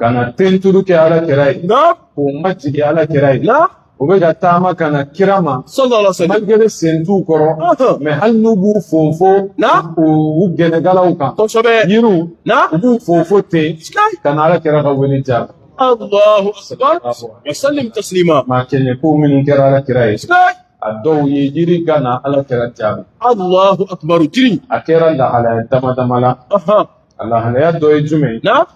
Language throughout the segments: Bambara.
ka na tenturu kɛ ala kira ye k'u majigin ala kira ye u bɛ ka taama ka na kira ma malgré sen t'u kɔrɔ mais hali n'u b'u fofo u gɛnɛkalaw kan yiriw u b'u fofo ten ka na ala kira ka wele jaabi Allahu akbar wa sallim taslima maa kɛɲɛ ko minnu kɛra ala kira ye a dɔw ye jiri ka na ala kira jaabi Allahu akbar jiri a kɛra lahalaya damadama la lahalaya dɔ ye jumɛn ye na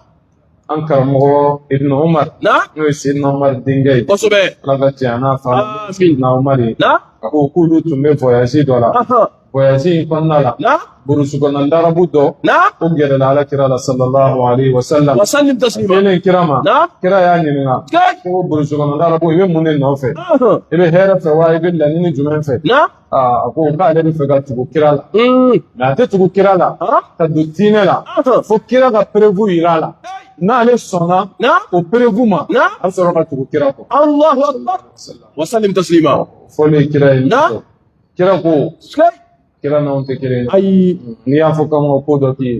an karamɔgɔ ibn umar na n'o ye sidina umar denkɛ ye kosɛbɛ ala ka diɲɛ n'a fa amin sidina umar ye na a ko k'olu tun bɛ voyage dɔ la ahan voyage in kɔnɔna la na burusi kɔnɔ larabu dɔ na o gɛrɛla ala kira la sallallahu alaihi wa sallam wa sallim taslima selen kira ma na kira y'a ɲininka na ko burusi kɔnɔ larabu i bɛ mun de nɔfɛ ahan i bɛ hɛrɛ fɛ wa i bɛ laɲini jumɛn fɛ na a ko k'ale bɛ fɛ ka tugu kira la nka a tɛ tugu kira la ka don diinɛ la fo kira ka preuve yira a la n'ale sɔnna o preuve ma a bɛ sɔrɔ ka tugu kira kɔ wasalim taslima foli ye kira ye kira ko kira n'anw tɛ kelen ye ayi n'i y'a fɔ k'an ka ko dɔ k'i ye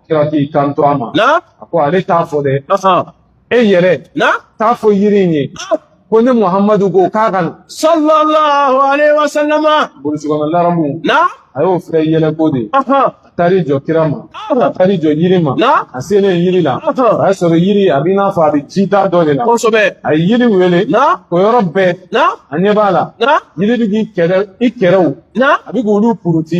kira k'i kanto a ma a ko ale t'a fɔ dɛ e yɛrɛ t'a fɔ yiri in ye ko ne muhamadu ko k'a ka na sallallahu alaihi wasallam burusi kɔnɔ larabu a y'o filɛ yɛlɛko de taar'i jɔ kira ma a taar'i jɔ yiri ma a selen yiri la a y'a sɔrɔ yiri a b'i n'a fɔ a bɛ jida dɔ de la kosɛbɛ a ye yiri wele o yɔrɔ bɛɛ a ɲɛ b'a la yiri bɛ k'i kɛrɛ i kɛrɛw a bɛ k'olu puruti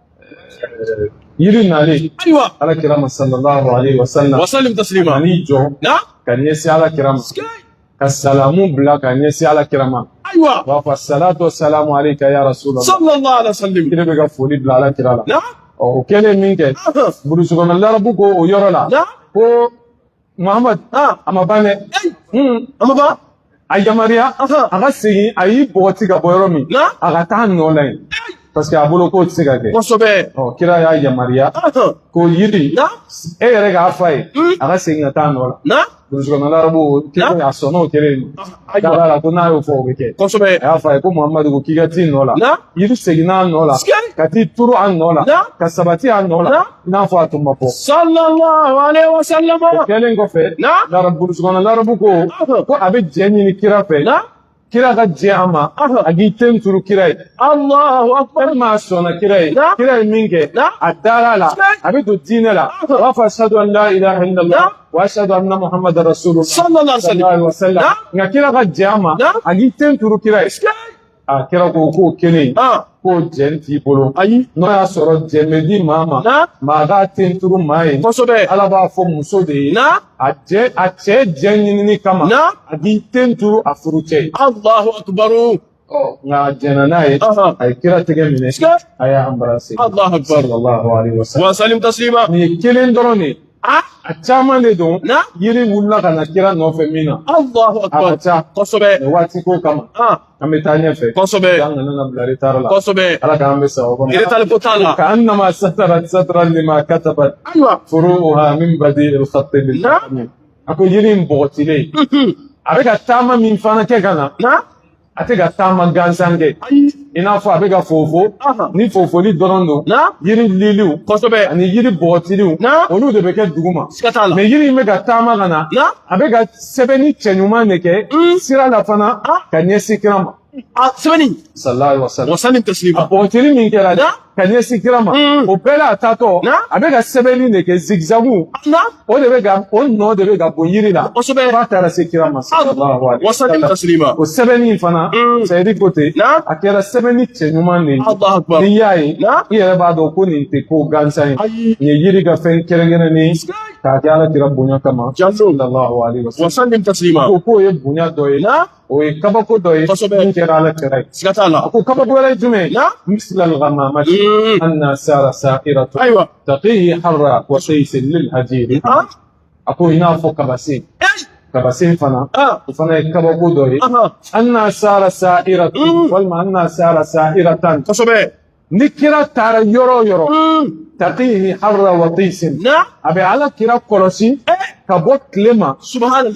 yiri nalen ayiwa ala kira ma sallallahu alaihi wasallam wasallim taslima a n'i jɔ na ka ɲɛsin ala kira ma ka salamu bila ka ɲɛsin ala kira ma ayiwa b'a fɔ salatu salamu alayka ya rasulallah sallallahu alaihi wasallam yiri bɛ ka foli bila ala kira la na o kɛlen min kɛ burusi kɔnɔ larabu ko o yɔrɔ la ko Muhammad aa a ma ban dɛ a ma ban a yamaruya a ka segin a y'i bɔgɔti ka bɔ yɔrɔ min a ka t'a nɔ la yen parce que a bolo k'o tɛ se ka kɛ kosɛbɛ ɔ kira y'a yamaruya ko yiri e yɛrɛ k'a f'a ye a ka segin ka t'a nɔ la burusi kɔnɔ larabu kelen a sɔnna o kɛlen a dara a la ko n'a y'o fɔ o bɛ kɛ kosɛbɛ a y'a f'a ye ko Muhammadu ko k'i ka t'i nɔ la yiri seginna a nɔ la ka t'i turu a nɔ la ka sabati a nɔ la i n'a fɔ a tun ma bɔ sallallahu alaihi wasallam o kɛlen kɔfɛ larabu burusi kɔnɔ larabu ko ko a bɛ jɛn ɲini kira fɛ kira ka jɛn a ma a k'i ten turu kira ye alahu akbar maa sɔnna kira ye kira ye min kɛ a dara a la a bɛ don diinɛ la a b'a fɔ ashadu an la ilaha illallah wa ashadu anna muhammadan rasulullah sallallahu alaihi wasallam nka kira ka jɛn a ma a k'i ten turu kira ye a kira ko k'o kelen in k'o jɛn t'i bolo ayi n'o y'a sɔrɔ jɛn bɛ di maa ma maa k'a ten turu maa ye kosɛbɛ ala b'a fɔ muso de ye a jɛ a cɛ jɛn ɲinini kama a k'i ten turu a furucɛ ye alahu akubaru nka a jɛnna n'a ye a ye kira tɛgɛ minɛ a y'a embrasser alahu akubaru wasalimu tasilima nin ye kelen dɔrɔn de ye A a caman de don yiri wulila ka na kira nɔfɛ min na a ka ca kosɛbɛ waati ko kama an bɛ taa ɲɛfɛ kosɛbɛ an kana na bila retard la kosɛbɛ ala k'an bɛɛ sa o kɔnɔ retard ko t'a la kaanama satarat satran lima katabat ayiwa furuuha min badi il khati bil laqami a ko yiri in bɔgɔtilen a bɛ ka taama min fana kɛ ka na a tɛ ka taama gansan kɛ i n'a fɔ a bɛ ka fofo ni fofoli dɔrɔn don yiri liliw kosɛbɛ ani yiri bɔgɔtiliw olu de bɛ kɛ duguma mɛ yiri in bɛ ka taama ka na a bɛ ka sɛbɛnni cɛɲuman de kɛ hmm. sira la fana ka ɲɛsin kira ma salalahu alayihi wasalamu a bɔgɔtili min kɛra dɛ ka ɲɛsin kira ma o bɛɛ la a taatɔ a bɛ ka sɛbɛnni de kɛ zigizagu o de bɛ ka o nɔ de bɛ ka bɔ yiri la f'a taara se kira ma o sɛbɛnni in fana sɛyidi ko ten a kɛra sɛbɛnni cɛɲuman de ye n'i y'a ye i yɛrɛ b'a dɔn ko nin tɛ ko gansan ye nin ye yiri ka fɛn kɛrɛnkɛrɛnnen ye k'a kɛ ala kira bonya kama ko k'o ye bonya dɔ ye o ye kabako dɔ ye kosɛbɛ min kɛra ala kira ye siga t'a la a ko kabako wɛrɛ ye jumɛn ye misila lgamama anna sara sairatu ayiwa taqihi harra watisin lil hajiri a ko i n'a fɔ kabasen kabasen fana o fana ye kabako dɔ ye anna sara sairatu walima anna sara sairatan kosɛbɛ ni kira taara yɔrɔ o yɔrɔ taqihi harra watisin a bɛ ala kira kɔlɔsi ka bɔ tile ma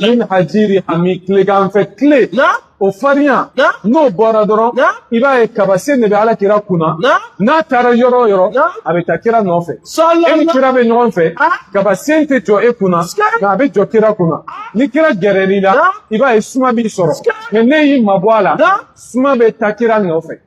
min hajiri hami tilegan fɛ tile o farinya n'o bɔra dɔrɔn i b'a ye kabasen de bɛ ala kira kunna n'a taara yɔrɔ o yɔrɔ a bɛ taa kira nɔfɛ e ni kira bɛ ɲɔgɔn fɛ kabasen tɛ jɔ e kunna nka a bɛ jɔ kira kunna ni kira gɛrɛr'i la i b'a ye suma b'i sɔrɔ mɛ n'e y'i mabɔ a la suma bɛ taa kira nɔfɛ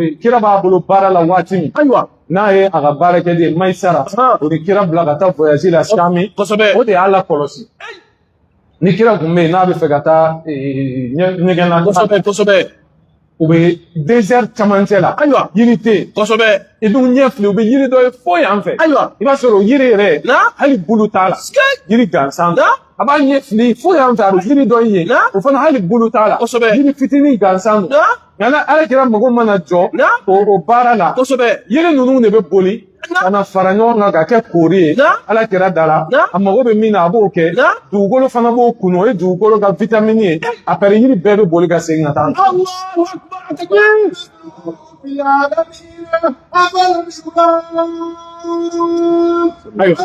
eh, kira b'a bolo baara la waati min ayiwa n'a ye a ka baarakɛden ye mayisara o ni kira bila ka taa voyage la sami o de y'a la kɔlɔsi ni kira tun bɛ yen n'a bɛ fɛ ka taa eh, ɲɛgɛn na kosɛbɛ kosɛbɛ u bɛ désert camancɛ la ayiwa yiri tɛ yen kosɛbɛ i dun ɲɛ fili u bɛ yiri dɔ ye fo yan fɛ ayiwa i b'a sɔrɔ o yiri yɛrɛ hali bulu t'a la yiri gansan a b'a ɲɛ fili fo yan fɛ a bɛ yiri dɔ ye o fana hali bulu t'a la kosɛbɛ yiri fitinin gansan don nka na ala kira mago mana jɔ o o baara la kosɛbɛ yiri ninnu de bɛ boli ka na fara ɲɔgɔn kan ka kɛ koori ye ala kira da la a mago bɛ min na a b'o kɛ dugukolo fana b'o kunu o ye dugukolo ka vitamini ye après yiri bɛɛ bɛ boli ka segin ka taa Ayiwa.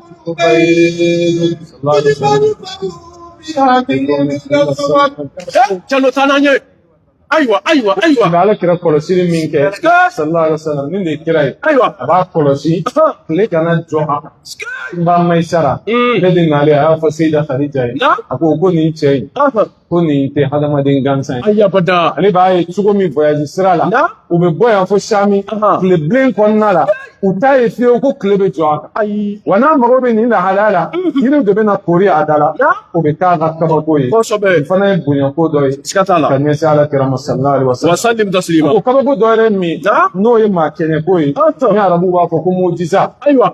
Calo taa n'an ye ayiwa ayiwa ayiwa nka ala kira kɔlɔsili min kɛ sallallahu alaihi wasallam nin de ye kira ye ayiwa a b'a kɔlɔsi tile kana jɔ a kan n ba Maisara in de nalen a y'a fɔ seyida khadija ye a ko ko nin cɛ in ko nin tɛ hadamaden gansan ye. ayi abada. ale b'a ye cogo min voyage sira la. na u bɛ bɔ yan fo sami. tile bilen kɔnɔna la. u t'a ye fiyewu ko tile bɛ jɔ a kan. ayi. wa n'a mago bɛ nin lahalaya la. yiriw de bɛ na koori a da la. na o bɛ k'a ka kabako ye. kosɛbɛ. nin fana ye bonyako dɔ ye. siga t'a la. ka ɲɛsin ala kira ma sallallahu alaihi wa sallam. wa sallim taslima. o kabako dɔ yɛrɛ min. na n'o ye maa kɛɲɛko ye. ni arabuw b'a fɔ ko mujiza. ayiwa.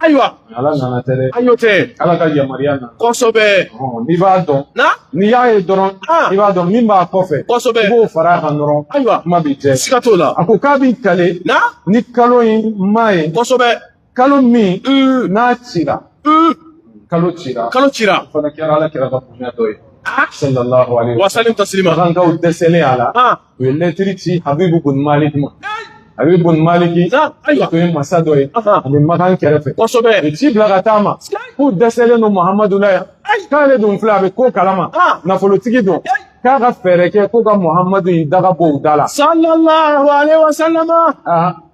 ayiwa ala nana tɛ dɛ ayi o tɛ ala ka yamaruya nana kosɛbɛ n'i b'a dɔn na n'i y'a ye dɔrɔn i b'a dɔn min b'a kɔfɛ kosɛbɛ i b'o fara a kan dɔrɔn ayiwa kuma b'i jɛ siga t'o la a ko k'a b'i kale na ni kalo in ma ye kosɛbɛ kalo min n'a cira kalo cira kalo cira o fana kɛra ala kira ka bonya dɔ ye sallallahu alaihi wa sallam taslima makankaw dɛsɛlen a la u ye lɛtiri ci habibu bun maliki ma habibu bun maliki o tun ye masa dɔ ye a bɛ makan kɛrɛfɛ kosɛbɛ u ye ci bila ka taa ma k'u dɛsɛlen don muhamadu la yan k'ale dun filɛ a bɛ ko kalama nafolotigi don k'a ka fɛɛrɛ kɛ ko ka muhamadu in daga bɔ u da la sallallahu alaihi wasallam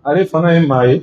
ale fana ye maa ye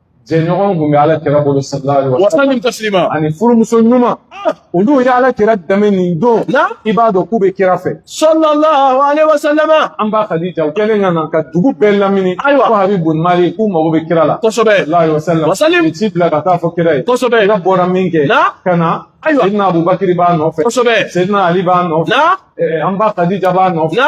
jɛɲɔgɔn kun bɛ ala kira bolo sallallahu alaihi wa sallam wasallim taslima ani furumuso ɲuman olu ye ala kira dɛmɛ nin don na i b'a dɔn k'u bɛ kira fɛ sallallahu alaihi wa sallama an ba kadija u kɛlen ka na ka dugu bɛɛ lamini Ayiwa. ko habibu bun maliki k'u mago bɛ kira la kosɛbɛ sallallahu alaihi wa sallam Wasallim. u ye ci bila ka taa fɔ kira ye kosɛbɛ kira bɔra min kɛ na ka na Ayiwa. sidina abubakiri b'a nɔfɛ kosɛbɛ sidina ali b'a nɔfɛ na eh, an ba kadija b'a nɔfɛ na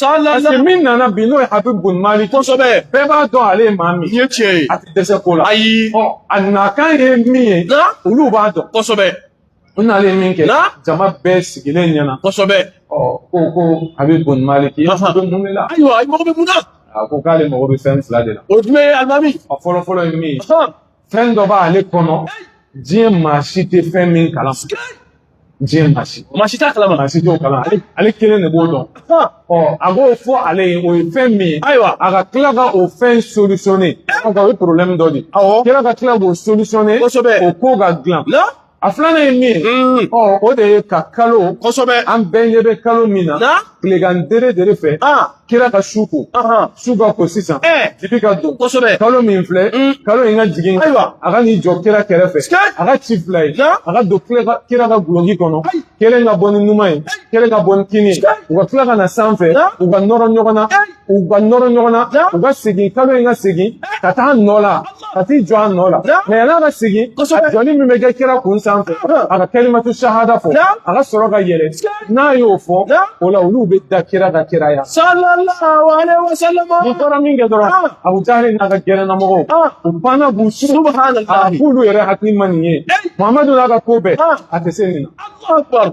parce que min nana bi n'o ye habibu bun maliki. kosɛbɛ. bɛɛ b'a dɔn ale ye maa min. i ye tiɲɛ ye. a tɛ dɛsɛ ko la. ayi. ɔ a nakan ye min ye. na olu b'a dɔn. kosɛbɛ. u nalen ye min kɛ. na jama bɛɛ sigilen ɲɛna. kosɛbɛ. ɔ ko ko habibu bun maliki e bɛ mun de la. ayiwa i mago bɛ mun na. a ko k'ale mago bɛ fɛn fila de la. o jumɛn ye alimami. a fɔlɔ fɔlɔ ye min ye. fɛn dɔ b'ale kɔnɔ diɲɛ maa si tɛ fɛn min kalan. diɲɛ maa si maa si t'a kalama maa si t'o kalan ale ale kelen de b'o dɔn ɔ a k'o fɔ ale ye o ye fɛn min ye ayiwa a ka tila ka o fɛn solutionner o ka o ye problème dɔ de ye awɔ kira ka tila k'o solutionner kosɛbɛ o ko ka dilan a filanan ye min ye ɔ o de ye ka kalo kosɛbɛ an bɛɛ ɲɛ bɛ kalo min na tilegan dere dere fɛ kira ka su ko su ka ko sisan dibi ka don kosɛbɛ kalo min filɛ kalo in ka jigin ayiwa a ka n'i jɔ kira kɛrɛfɛ a ka ci fila ye a ka don kira ka guloki kɔnɔ kelen ka bɔ ni numan ye kelen ka bɔ ni kini ye u ka tila ka na sanfɛ u ka nɔrɔ ɲɔgɔn na u ka nɔrɔ ɲɔgɔn na u ka segin kalo in ka segin ka taa nɔ la ka t'i jɔ a nɔ la mais yan'a ka segin a jɔni min bɛ kɛ kira kun sanfɛ a ka kalimatu sahada fɔ a ka sɔrɔ ka yɛlɛ n'a y'o fɔ o la olu bɛ da kira ka kiraya nin fɔra min kɛ dɔrɔn abu jahali n'a ka gɛrɛnamɔgɔw u banna b'u su a k'olu yɛrɛ hakili ma nin ye muhamadu n'a ka ko bɛɛ a tɛ se nin na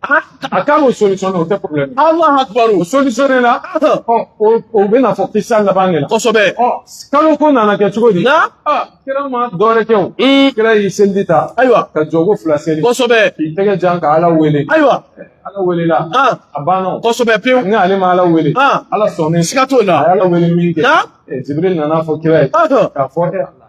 A k'a b'o solutionner o tɛ problème ye. Alahu akibaru. O solutionner la. Ɔ o o bɛ na fɔ kisa laban de la. Kosɛbɛ. Ɔ kalo ko nana kɛ cogo di. Na. Aa kira ma dɔwɛrɛ kɛ o. Un. Kira y'i seliji ta. Ayiwa. Ka jɔko fila seli. Kosɛbɛ. K'i tɛgɛ jan ka Ala wele. Ayiwa. Ala welela. An. A banna o. Kosɛbɛ pewu. Ni ale ma Ala wele. An. Ala sɔnnen. Siga t'o la. A ye Ala wele min kɛ. Na. Ɛ Jibirili nana fɔ kira ye. Ɔhɔn. K'a fɔ e Ala.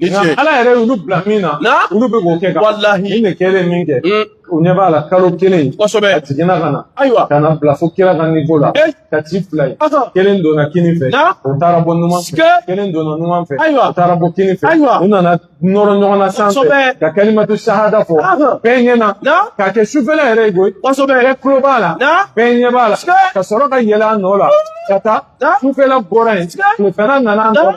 Ni ce. Nka Ala yɛrɛ y'olu bila min na. Na? Olu bɛ k'o kɛ ka. Walahi. Nin de kɛlen min kɛ. Mm. U ɲɛ b'a la kalo kelen. Kosɛbɛ. A jiginna ka na. Ayiwa. Ka na bila fo kira ka niveau la. Eh. Ka ci fila ye. Asa. Kelen donna kini fɛ. Na? O taara bɔ numan fɛ. Sike. Kelen donna numan fɛ. Ayiwa. O taara bɔ kini fɛ. Ayiwa. U nana nɔrɔ ɲɔgɔn na sanfɛ. Kosɛbɛ. Ka kalimatu sahada fɔ. Aha. Bɛɛ ɲɛ na. Na? K'a kɛ sufɛla yɛrɛ ye koyi. Kosɛbɛ. Bɛɛ tulo b'a la. Na? Bɛɛ ɲɛ b'a la. Sike. Ka sɔrɔ ka yɛlɛ a nɔ la. Ka taa. Na? Sufɛla bɔra yen. Sike. Tilefɛla nana an Na? kɔrɔ.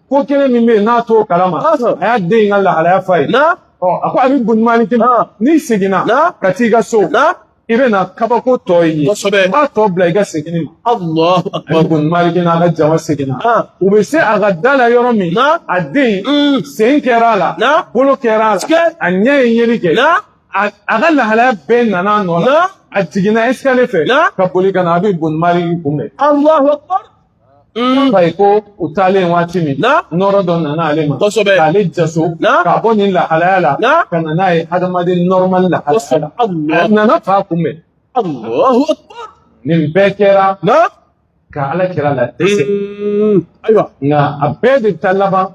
ko kelen min bɛ yen n'a t'o kalama a y'a den in ka lahalaya f'a ye a ko habib buni maliki n'i seginna ka t'i ka so i bɛ na kabako tɔ ye b'a tɔ bila i ka segin ma habib buni maliki n'a ka jama seginna u bɛ se a ka da la yɔrɔ min a den mm. sen kɛra a la bolo kɛra a la a ɲɛ ye yeli kɛ a ka lahalaya bɛɛ nana a nɔ la a jiginna escalier fɛ ka boli ka na habib buni maliki kunbɛn. Mm. F'a ye ko u taalen waati min nɔrɔ dɔ nana ale ma k'ale jaso k'a bɔ nin lahalaya la ka na n'a ye adamaden normal lahalaya la a nana fa kunbɛn nin bɛɛ kɛra ka ala kira ladɛsɛ mm. ayiwa nka a bɛɛ de bɛ taa laban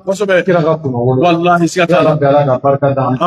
kira ka kunnawolo walahi siga t'a la ala ka barika d'an ma.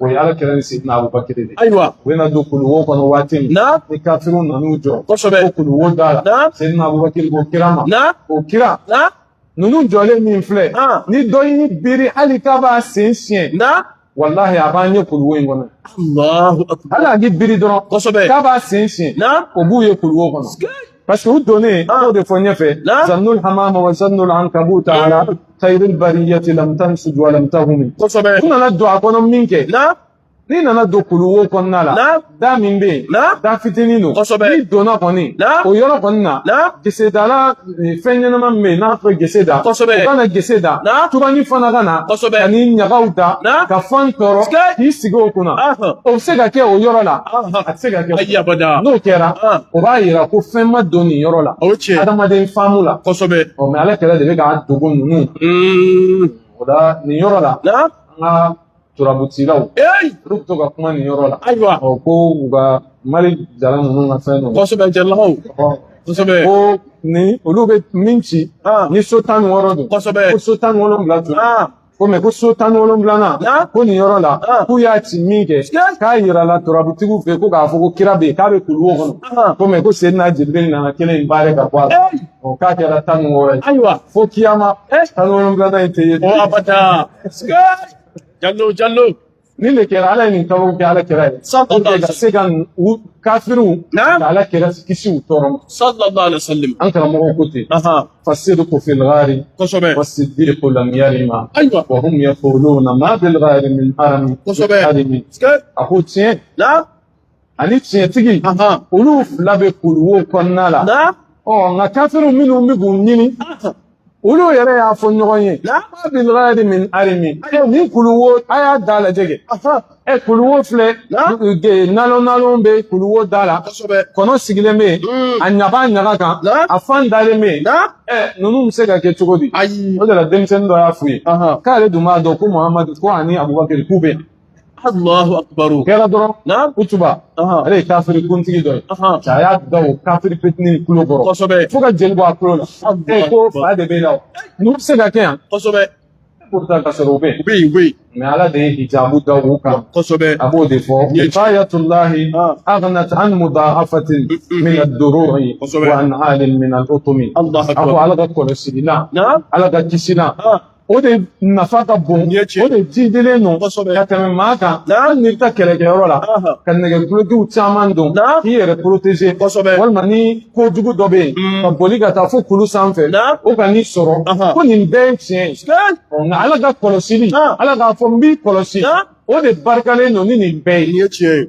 o ye ala kira ni sidina abubakar de ayiwa u bɛna don kuluwo kɔnɔ waati min na ni kafiriw nan'u jɔ kosɛbɛ ko kuluwo da la na sidina abubakar ko kira ma na o kira na ninnu jɔlen min filɛ ni dɔ y'i biri hali k'a b'a sen siɲɛ na walahi a b'an ye kuluwo in kɔnɔ hali a k'i biri dɔrɔn kosɛbɛ k'a b'a sen siɲɛ na o b'u ye kuluwo kɔnɔ parce que u donnen ah. y'o de fɔ ɲɛfɛ zannul hamama wa zannul ankabuta ah. ala khairil bariyati lam tansuj wa lam tahumi kosɛbɛ u nana don a kɔnɔ min kɛ n'i nana don kuluwo kɔnɔna la da min bɛ yen da fitinin don n'i donna kɔni o yɔrɔ kɔni na gesedala eh, fɛn ɲɛnama min bɛ yen n'a fɔ gese da o ka na gese da tubani fana ka na ani ɲagaw da ka fan tɔrɔ k'i sigi o kunna o bɛ se ka kɛ o yɔrɔ la Se ka kɛ ayi abada n'o kɛra o b'a yira ko fɛn ma don nin yɔrɔ la o cɛ adamaden faamu la kosɛbɛ ɔ mɛ ala kelen de bɛ k'a dogo ninnu o la nin yɔrɔ la an ka turabutilaw olu bɛ to ka kuma nin yɔrɔ la ayiwa ɔ ko u ka mali jala ninnu ka fɛn dɔ kosɛbɛ jɛlakaw kosɛbɛ ko ni olu bɛ min ci ni so tan ni wɔɔrɔ don kosɛbɛ ko so tan ni wolonwula tun ko mɛ ko so tan ni wolonwulanan ko nin yɔrɔ la k'u y'a ci min kɛ k'a yirala turabutigiw fɛ ko k'a fɔ ko kira bɛ yen k'a bɛ kuluwo kɔnɔ ko mɛ ko seyidina jibirili nana kelen in barrer ka bɔ a la o k'a kɛra tan ni wɔɔrɔ ye ayiwa fo kiyama tan ni wolonwulanan in tɛ ye abada jallo jallo Ni ne kɛra ala ye nin kaba kɛ ala kira ye sa ka se ka kafiw ala kira kisi u tɔɔrɔ ma sa an karamɔgɔ ko ten fa se ko fɛlɛri ko lamiyari ma ayiwa fɔ na maa bɛ min a ko tiɲɛ ani tiɲɛtigi olu fila bɛ kuluwo kɔnɔna la ɔ nka kafiriw minnu bɛ k'u ɲini olu yɛrɛ y'a fɔ ɲɔgɔn ye ma bil ghari min arimi nin kuluwo a y'a da lajɛ kɛ ɛ kuluwo filɛ nalon nalon bɛ kuluwo da la kɔnɔ sigilen bɛ hmm. a ɲaga ɲaga kan a fan dalen bɛ ɛ ninnu bɛ se ka kɛ cogo di o de la denmisɛnnin dɔ y'a f'u ye k'ale dun b'a dɔn ko muhamadu ko ani abubakari k'u bɛ Allahu akbaru kɛra dɔrɔn utuba ale ye kafiri kuntigi dɔ ye a y'a da o kafiri fitinin kulo kɔrɔ kosɛbɛ fo ka jeli bɔ a kulo la e ko fa de b'e la ninnu bɛ se ka kɛ yan kosɛbɛ pourtant ka sɔrɔ u bɛ yen u bɛ yen u bɛ yen mais ala de ye hijabu da u kan kosɛbɛ a b'o de fɔ wiqayatullahi aghnat an mudaafatin min ad-duru'i wa an alin min al-utumi a ko ala ka kɔlɔsili na ala ka kisi na o de nafa ka bon o de jidilen don ka tɛmɛ maa kan hali n'i bɛ taa kɛlɛkɛyɔrɔ la ka nɛgɛdulokiw caman don k'i yɛrɛ protéger walima ni kojugu dɔ bɛ yen mm. ka boli ka taa fo kulu sanfɛ o kan'i sɔrɔ ko nin bɛɛ ye tiɲɛ ye nka ala ka kɔlɔsili ala k'a fɔ n b'i kɔlɔsi o de barikalen don ni nin bɛɛ ye tiɲɛ ye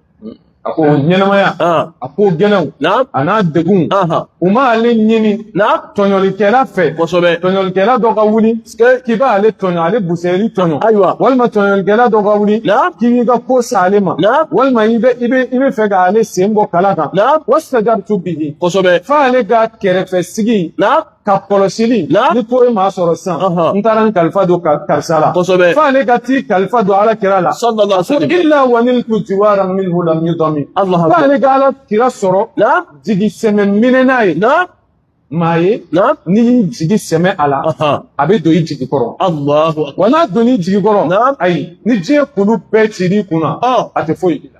a ko ɲɛnamaya a ko gɛlɛnw a n'a degunw u ma ale ɲini tɔɲɔlikɛla fɛ kosɛbɛ tɔɲɔlikɛla dɔ ka wuli k'i b'a ale tɔɲɔ ale busɛri tɔɲɔ ayiwa walima tɔɲɔlikɛla dɔ ka wuli k'i b'i ka ko sa ale ma walima i bɛ i bɛ i bɛ fɛ ka ale sen bɔ kala kan wastajartu bihi kosɛbɛ f'ale ka kɛrɛfɛ sigi ka kɔlɔsili ni ko ye maa sɔrɔ sisan n taara n kalifa don karisa la f'ale ka t'i kalifa don ala kira la illa wa niltu jiwaran minhu lam yudami f'ale ka ala kira sɔrɔ jigi sɛmɛ minɛna ye maa ye n'i y'i jigi sɛmɛ a la a bɛ don i jigi kɔrɔ wa n'a donn'i jigi kɔrɔ ayi ni diɲɛ kulu bɛɛ cir'i kun na a tɛ foyi k'i la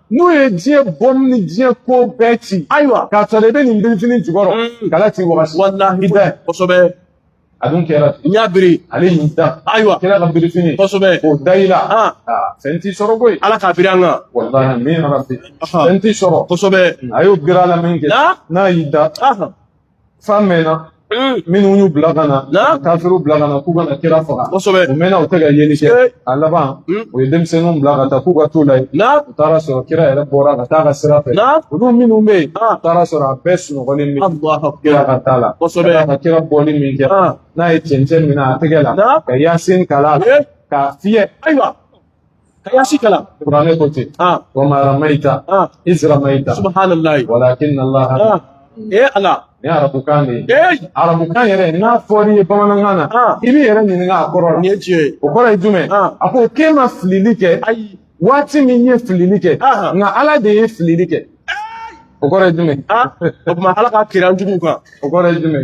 n'u ye diɲɛ bɔmu ni diɲɛ ko bɛɛ ci ayiwa k'a sɔrɔ i bɛ nin birifini jukɔrɔ mm. kala t'i wagasi walahi bɛɛ kosɛbɛ a dun kira y'a biri ale y'i da ayiwa kira ka birifini kosɛbɛ o da i la ah. Ah, fɛn t'i sɔrɔ koyi ala k'a biri an kan walahi min rabbi fɛn t'i sɔrɔ kosɛbɛ a y'o biri a la min kɛ n'a y'i da faama minnu y'u bila ka na kafiriw bila ka na k'u ka na kira faga u mɛnna u tɛ ka yeli kɛ a laban u ye denmisɛnninw bila ka taa k'u ka t'u lajɛ u taara sɔrɔ kira yɛrɛ bɔra ka taa ka sira fɛ olu minnu bɛ yen u taara sɔrɔ a bɛɛ sunɔgɔlen bɛ kira ka taa la ka kira bɔli min kɛ n'a ye cɛncɛn minɛ a tɛgɛ la ka yasin kalan k'a fiyɛ ayiwa ka yasin kalan Qur'ani ko ten ah wa ma ramaita ah iz ramaita subhanallahi walakin Allah ah eh ala nin arabu kan de ye eh arabu kan yɛrɛ n'a fɔr'i ye bamanankan na ah. i b'i yɛrɛ ɲininka a kɔrɔ la nin ye tiɲɛ ye o kɔrɔ ye jumɛn ah. a ko k'e ma filili kɛ ayi waati min i ye filili kɛ ah. nka ala de ye filili kɛ o kɔrɔ ye jumɛn o tuma ala ka kira jugu kan o kɔrɔ ye jumɛn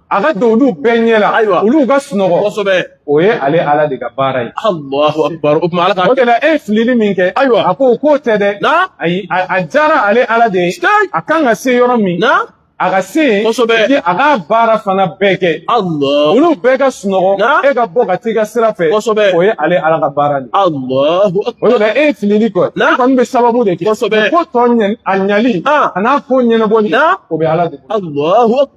a ka don olu bɛɛ ɲɛ la Ayiwa. olu ka sunɔgɔ kosɛbɛ o ye ale ala de ka baara ye alahu akubar o tuma ala ka o de la e ye filili min kɛ Ayiwa. a ko o ko tɛ dɛ na ayi a a diyara ale ala de ye Sky. a kan ka se yɔrɔ min na a ka se yen Kosɛbɛ. ni a k'a baara fana bɛɛ kɛ alahu olu bɛɛ ka sunɔgɔ Na? e ka bɔ ka t'i ka sira fɛ Kosɛbɛ. o ye ale ala ka baara de ye alahu o akubar de la e ye filili kɔ Na? e kɔni bɛ sababu de kɛ Kosɛbɛ. ko tɔ ɲɛ a ɲali Ah. a n'a ko ɲɛnabɔli Na? o bɛ ala de bolo alahu akubar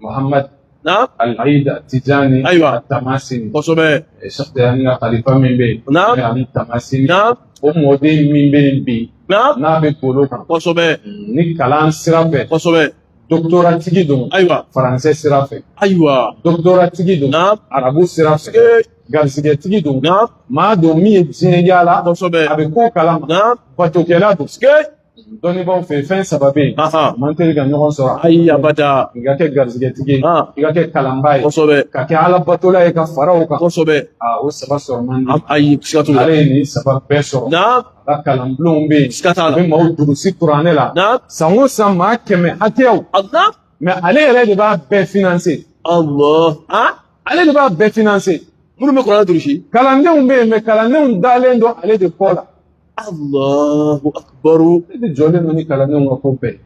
Muhammad na Al-Aid Tijani Ayiwa. Tamasini kosɛbɛ Sheikh Tijani ka kalifa min bɛ yen na n'o ye Ali Tamasini na o mɔden min bɛ yen bi na n'a bɛ golo kan kosɛbɛ ni kalan sira fɛ kosɛbɛ dɔkitɔratigi don ayiwa faransɛ sira fɛ ayiwa dɔkitɔratigi don na arabu sira fɛ ee garisigɛtigi don na maa don min ye diɲɛ yaala kosɛbɛ a bɛ ko kalama na batokɛla don ee Dɔnnibaaw fɛ fɛn saba bɛ yen man teli ka ɲɔgɔn sɔrɔ ayi abada i ka kɛ garisigɛtigi ye i ka kɛ kalanbaa ye kosɛbɛ ka kɛ alabatola ye ka fara o kan kosɛbɛ o saba sɔrɔ man di ayi siga t'o la ale ye nin saba bɛɛ sɔrɔ a ka kalanbulonw bɛ yen siga t'a la a bɛ maaw durusi kuranɛ la san o san maa kɛmɛ hakɛyaw mɛ ale yɛrɛ de b'a bɛɛ finanse ale de b'a bɛɛ finanse minnu bɛ kuranɛ durusi kalandenw bɛ yen mɛ kalandenw dalen don ale de kɔ la Allahu akbar ale de jɔlen don ni kalandenw ka ko bɛɛ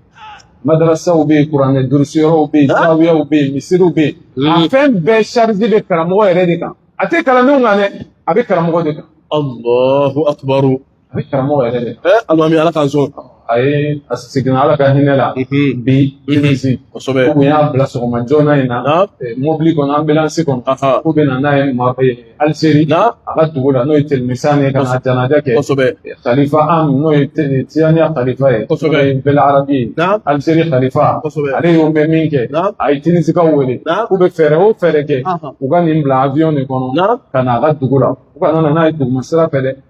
madarasaw bɛ yen kuranɛ durusiyɔrɔw bɛ yen zawiyaw bɛ yen misiriw bɛ yen a fɛn bɛɛ charge bɛ karamɔgɔ yɛrɛ de kan a tɛ kalandenw kan dɛ a bɛ karamɔgɔ de kan Allahu akbar a bɛ karamɔgɔ yɛrɛ de kan alimami ala k'an sɔn a ye a seginna ala ka hinɛ la bi tinisi kosɛbɛ k'u y'a bila sɔgɔma joona in na mobili kɔnɔ anbilansi kɔnɔ k'u bɛ na n'a ye aliseri a ka dugu la n'o ye telimisan ye ka na janaja kɛ kosɛbɛ kalifa an n'o ye tiyaniya kalifa ye kosɛbɛ n'o ye bɛl arabi ye aliseri kalifa ale y'o mɛn min kɛ a ye tinisikaw wele k'u bɛ fɛɛrɛ o fɛɛrɛ kɛ u ka nin bila awiyɔn de kɔnɔ ka na a ka dugu la u kana n'a ye duguma sira fɛ dɛ